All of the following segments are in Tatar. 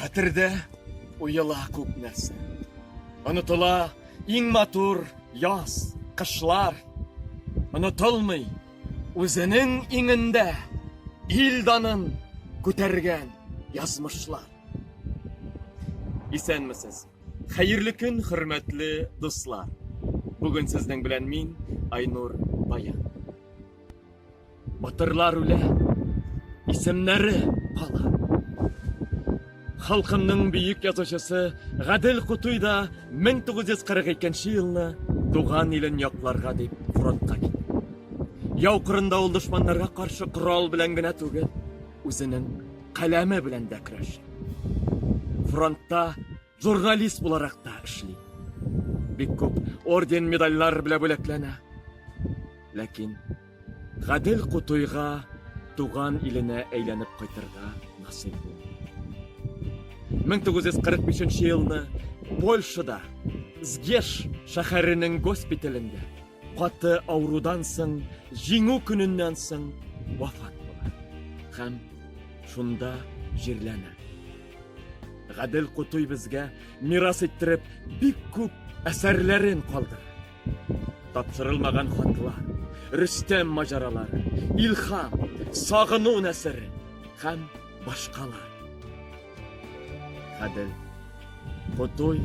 Хәтердә уела күп нәрсә. Онытыла иң матур яз, кышлар. Онытылмый үзенең иңендә ил данын күтәргән язмышлар. Исәнмесез! Хәерле көн, хөрмәтле дуслар! Бүген сезнең белән мин, Айнур Баян. Батырлар үлә, исемнәре кала. Халкымның бөек язучысы Гадел Кутуй да 1942 нче елны туган илен якларга дип фронтка китте. Яу кырында ул дошманнарга каршы корал белән генә түгел, үзенең каләме белән дә көрәшә. Фронтта Журналист буларак та эшли. Бик күп орден-медальләр белә бүләкләнә. Ләкин Гадел Кутуйга туган иленә әйләнеп кайтырга насыйп булмый. 1945 нче елны Польшада Згеш шәһәренең госпиталендә каты авырудан соң Җиңү көненнән соң вафат була һәм шунда җирләнә. Гадел Кутуй безгә мирас иттереп бик күп әсәрләрен калдырды. Тапшырылмаган хатлар, Рөстәм маҗаралары, Илхам, Сагыну нәсере һәм башкалар. Гадел Кутуй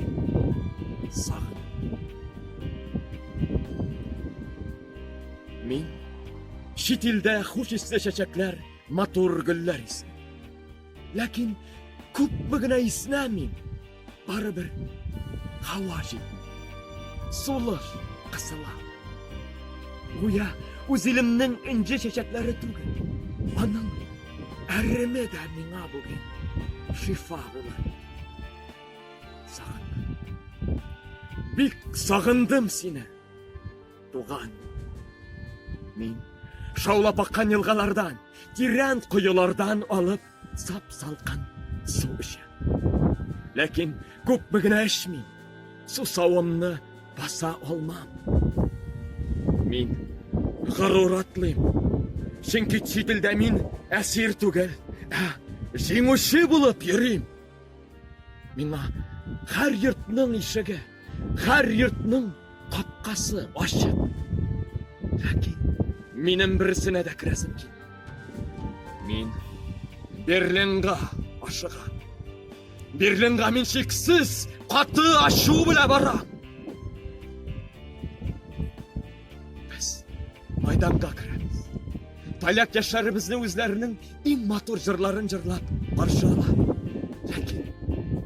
сагын. Мин чит илдә хуш исле чәчәкләр, матур гөлләр исем. Ләкин күпме генә иснәмим, барыбер һава җитми. Сулыш кысыла. Гүя үз илемнең энҗе чәчәкләре түгел. Аның әреме дә миңа бүген шифа булыр иде. Сагындым. Бик сагындым сине. Туган. Мин шаулап аккан елгалардан, тирән коелардан алып сап-салкын су эчәм. Ләкин күпме генә эчмим, сусавымны баса алмам. Мин горур атлыйм. Чөнки чит илдә мин әсир түгел, ә җиңүче булып йөрим. Миңа һәр йортның ишеге, һәр йортның капкасы ачык. Ләкин минем берсенә дә керәсем килми. Мин Берлинга ашыга. Берлинга мин шиксез каты ачу белә бара. Без мәйданга керәбез. Поляк яшьләребезне үзләренең иң матур җырларын җырлап каршы ала. Ләкин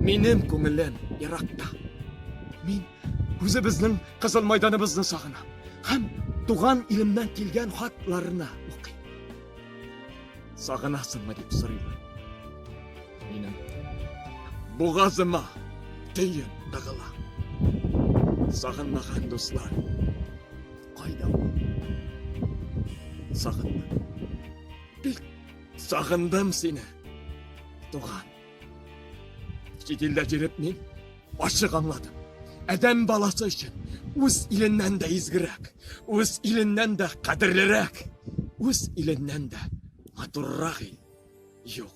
минем күңелем еракта. Мин үзебезнең кызыл мәйданыбызны сагынам һәм туган илемнән килгән хатларны укыйм. Сагынасыңмы дип сорыйлар. Минем бугазыма төен тыгыла. Сагынмаган дуслар, кайда ул? Сагындым. Бик сагындым сине, туган. Чит илдә җиреп мин ачык аңладым. Адәм баласы өчен үз иленнән дә изгерәк, үз иленнән дә кадерлерәк, үз иленнән дә матуррак ил. Юк.